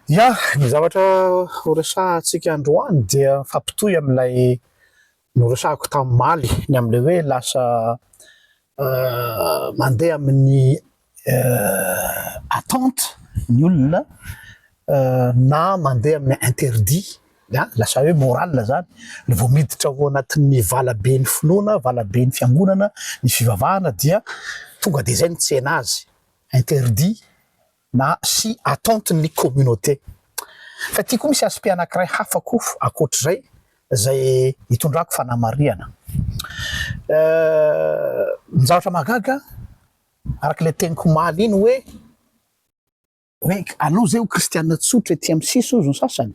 Ya, ny zavatra horesahantsika androany dia mifampitohy amin'ilay noresahako tamimaly, ny amin'ilay hoe lasa mandeha amin'ny attente ny olona na mandeha amin'ny interdit, ya, lasa hoe moral izany, raha vao miditra ao anatin'ny valaben'ny finoana, valaben'ny fiangonana, ny fivavahana dia tonga dia izay no tsena azy, interdit. na sy attente ny communauté. Fa ity koa misy aspect anankiray hafa koa ankoatr'izay izay itondrako fanamarihana. Ny zavatra mahagaga araka ilay teniko omaly iny hoe hoe alou izay ho kristiana tsotra ety amin'ny sisy hozy ny sasany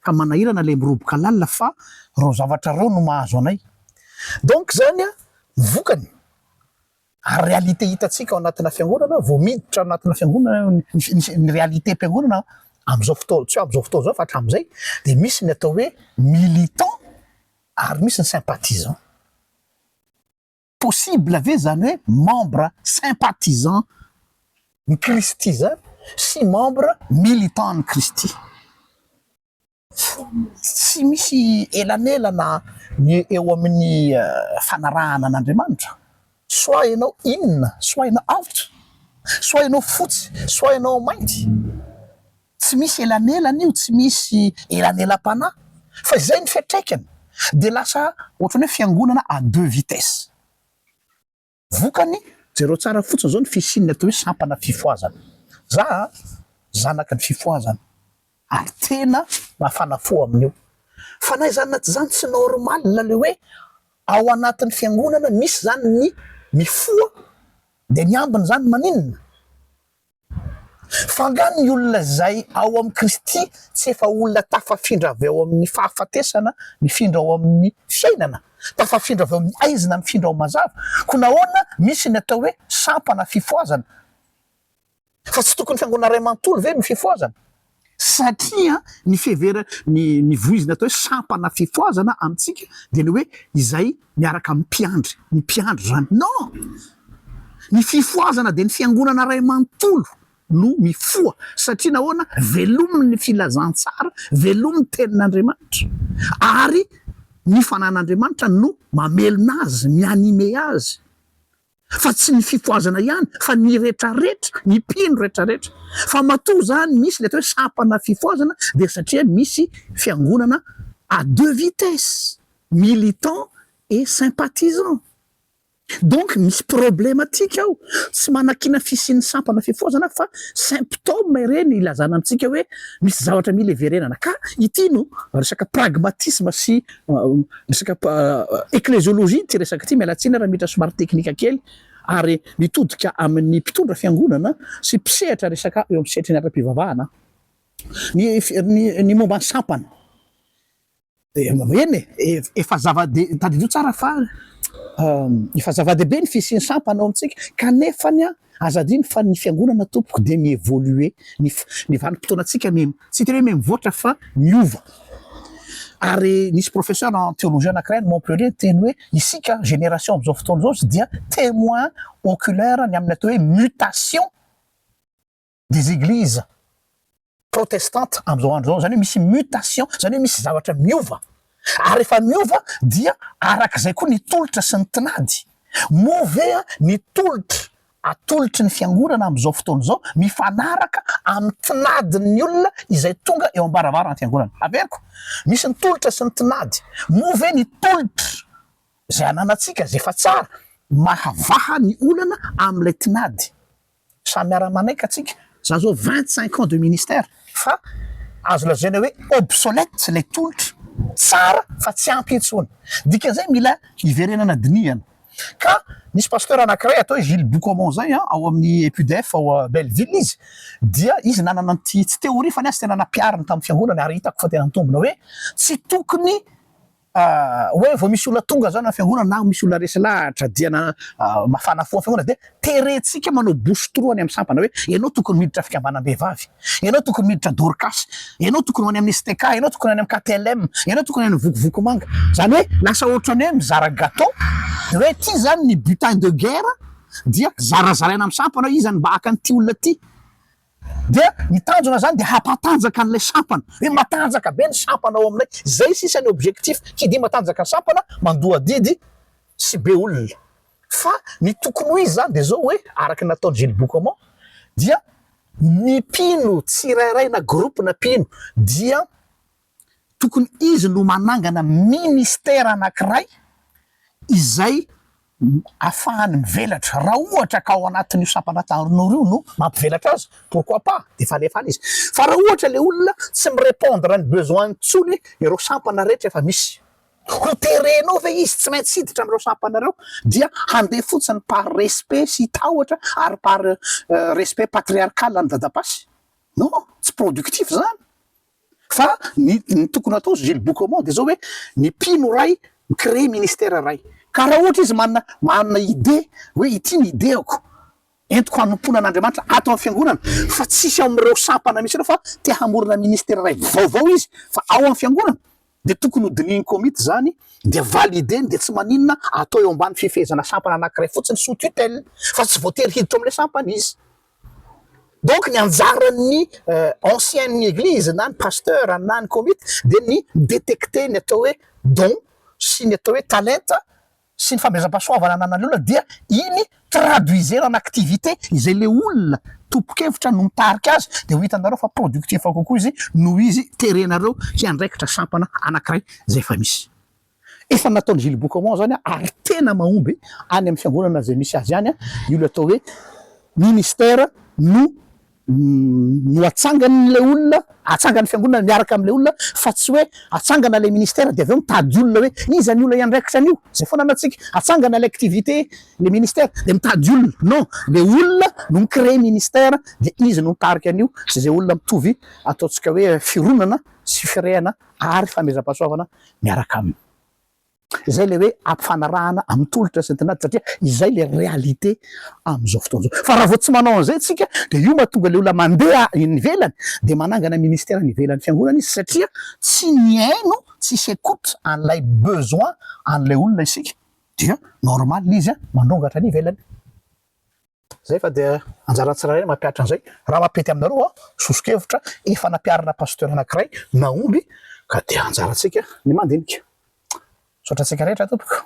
ka manahirana ilay miroboka lalina fa ireo zavatra ireo no mahazo anay. Donc izany ny vokany Ary réalité hitantsika ao anatina fiangonana, vao miditra ao anatina fiangonana ny ny réalité mpiangonana amin'izao fotoana, tsy hoe amin'izao fotoana izao fa hatramin'izay dia misy ny atao hoe militants ary misy ny sympathisants. Possible ve izany hoe membre sympathisant ny Kristy izany sy membre militant an'i Kristy? Tsy misy elanelana ny eo amin'ny fanarahana an'Andriamanitra. Soit ianao inona, soit ianao avotra, soit ianao fotsy, soit ianao mainty. Tsy misy elanelana io, tsy misy elanelam-panahy fa izay ny fiantraikany dia lasa ohatran'ny hoe fiangonana à deux vitesses. Vokany, jereo tsara fotsiny izao ny fisian'ny atao hoe sampana fifohazana. Za a, zanaky ny fifohazana ary tena mafana fo amin'io. Fanahy izany na tsy izany tsy normal le hoe ao anatin'ny fiangonana misy izany ny mifoha dia ny ambiny izany maninona? Fa nga ny olona izay ao amin'i Kristy tsy efa olona tafafindra avy ao amin'ny fahafatesana mifindra ao amin'ny fiainana? Tafafindra avy ao amin'ny aizina mifindra ao mazava? Koa nahoana misy ny atao hoe sampana fifohazana? Fa tsy tokony fiangonana iray manontolo ve no fifohazana? Satria ny fihevera, ny ny voizina atao hoe sampana fifohazana amintsika dia ny hoe izay miaraka amin'ny mpiandry, ny mpiandry izany. Non! Ny fifohazana dia ny fiangonana iray manontolo no mifoha. Satria nahoana? Velomin' ny filazantsara, velomin' ny tenin' Andriamanitra. Ary ny fanan' Andriamanitra no mamelona azy, mi-animer azy. fa tsy ny fifohazana ihany fa ny retraretra, ny mpino retraretra, fa matoa izany misy ilay atao hoe sampana fifohazana dia satria misy fiangonana à deux vitesses, militants et sympathisants. Donc misy problematika ao, tsy manakiana fisian'ny sampana fifohazana fa symptômes ireny ilazana amintsika hoe misy zavatra mila hiverenana, ka ity no resaka pragmatisme sy Resaka ekleziolojia ity resaka ity, miala tsiny raha miditra somary teknika kely, ary mitodika amin'ny mpitondra fiangonana sy mpisehatra resaka eo amin'ny sehatry ny ara-pivavahana ny momba ny sampana. Eny e, efa zava-dehibe, tadidio tsara fa efa zava-dehibe ny fisian'ny sampana ao amintsika, kanefa anie Aza adino fa ny fiangonana tompoko dia mi evolue ny ny vanim-potoanantsika mi tsy tena hoe mi mivoatra fa miova ary nisy professeur en théologie anankiray any Montpellier niteny hoe isika génération amin'izao fotoana izao dia témoin oculaire ny amin'ny atao hoe mutation des églises protestantes amin'izao andro izao, izany hoe misy mutation, izany hoe misy zavatra miova, ary rehefa miova dia arak'izay koa ny tolotra sy ny tinady. Moa ve ny tolotra atolotry ny fiangonana amin'izao fotoana izao mifanaraka amin'ny tinadin'ny olona izay tonga eo am-baravaran'ny fiangonana? Averiko, misy ny tolotra sy ny tinady. Moa ve ny tolotra izay ananantsika, izay efa tsara, mahavaha ny olana amin'ilay tinady? Samy miara manaika tsika. Za zao vingt cinq ans de ministère fa azo lazaina hoe obsolète ilay tolotra. Tsara fa tsy ampy intsony. Dikan'izay mila hiverenana dinihana. Ka misy pasteur anankiray atao hoe Gilles Boucomont zay an, ao amin'ny EQDF ao Belleville izy, dia izy nanana an'ity, tsy teoria fa ny azy tena nampihariny tamin'ny fiangonana ary hitako fa tena mitombina hoe tsy tokony, hoe vao misy olona tonga zao na fiangonana na misy olona resy lahatra dia na mafana fo fiangonana dia terentsika manao bouche trou any amin'ny sampana hoe ianao tokony miditra fikambanam-behivavy, ianao tokony miditra dorcas, ianao tokony ho any amin'ny STK, ianao tokony any amin'ny KTLM, ianao tokony any vokovoko manga. Zany hoe lasa ohatrany hoe mizara gateau dia hoe ity zany ny butin de guerre dia zarazaraina amin'ny sampana hoe iza no mba haka an'ity olona ity. Dia ny tanjona zany dia hampatanjaka an'ilay sampana, hoe matanjaka be ny sampana ao aminay, zay sisa ny objectif, tsy dia matanjaka ny sampana, mandoa adidy sy be olona. Fa ny tokony ho izy zany dia zao hoe, araka ny nataon'i Gilles Beaucomment, dia ny mpino tsirairay na groupe na mpino dia Tokony izy no manangana ministera anankiray izay afahany mivelatra. Raha ohatra ka ao anatin'io sampana Tarin'Oro io no mampivelatra azy, pourquoi pas, efa alefany izy. Fa raha ohatra ilay olona tsy mi-repondre ny besoin intsony ireo sampana rehetra efa misy, ho terenao ve izy tsy maintsy hiditra amin'ireo sampana ireo dia handeha fotsiny par respect sy tahotra ary par respect patriarcal an'i Dadapasy? Non, tsy productif izany. Fa ny ny tokony atao Gilles Boucamont de zao hoe ny mpino iray mi-creer ministère iray ka raha ohatra izy manana manana idée hoe ity ny idéako entiko hanompoana an'Andriamanitra ato amin'ny fiangonana fa tsisy ao amin'ireo sampana misy ireo fa te hamorona ministère iray vaovao izy fa ao amin'ny fiangonana dia tokony ho dinihin'ny komity izany dia valideny dia tsy maninona atao eo ambany fifehezana sampana anankiray fotsiny sous tutelle fa tsy voatery hiditra ao amin'ilay sampana izy. Donc ny anjaran'ny ancien'ny eglizy na ny pasteur na ny komity dia ny mi-detecter ny atao hoe don sy ny atao hoe talenta sy ny famehezam-pahasoavana ananan'ny olona dia iny traduisena en activité izay le olona tompon-kevitra no mitarika azy dia ho hitanareo fa productif kokoa izy noho izy terenareo hiandraikitra sampana anakiray izay efa misy. Efa nataon'i Gilles Boucaumont izany ary tena mahomby any amin'ny fiangonana izay misy azy any io ilay atao hoe ministère no no atsangan'ilay olona, atsangan'ny fiangonana miaraka amin'ilay olona fa tsy hoe atsangana ilay ministère dia avy eo mitady olona hoe iza ny olona hiandraikitra an'io? Izay foana no antsika, atsangana ilay activité, ilay ministère dia mitady olona. Non, ilay olona no mi-créer ministère dia izy no mitarika an'io sy izay olona mitovy ataontsika hoe fironana sy firehana ary fanomezam-pahasoavana miaraka aminy. Izay ilay hoe ampifanarahana amin'ny tolotra sy ny tinady satria izay ilay réalité amin'izao fotoana izao. Fa raha vao tsy manao an'izay isika dia io mahatonga ilay olona mandeha eny ivelany dia manangana ministère any ivelan'ny fiangonana izy satria tsy mihaino, tsisy écoute an'ilay besoin an'ilay olona isika dia normal izy mandongatra any ivelany. Zay fa dia anjaran'ny tsirairay ny mampihatra an'izay. Raha mampety aminareo aho, soso-kevitra, efa nampiharina pasteur anankiray nahomby ka dia anjarantsika ny mandinika. Misaotra antsika rehetra tompoko.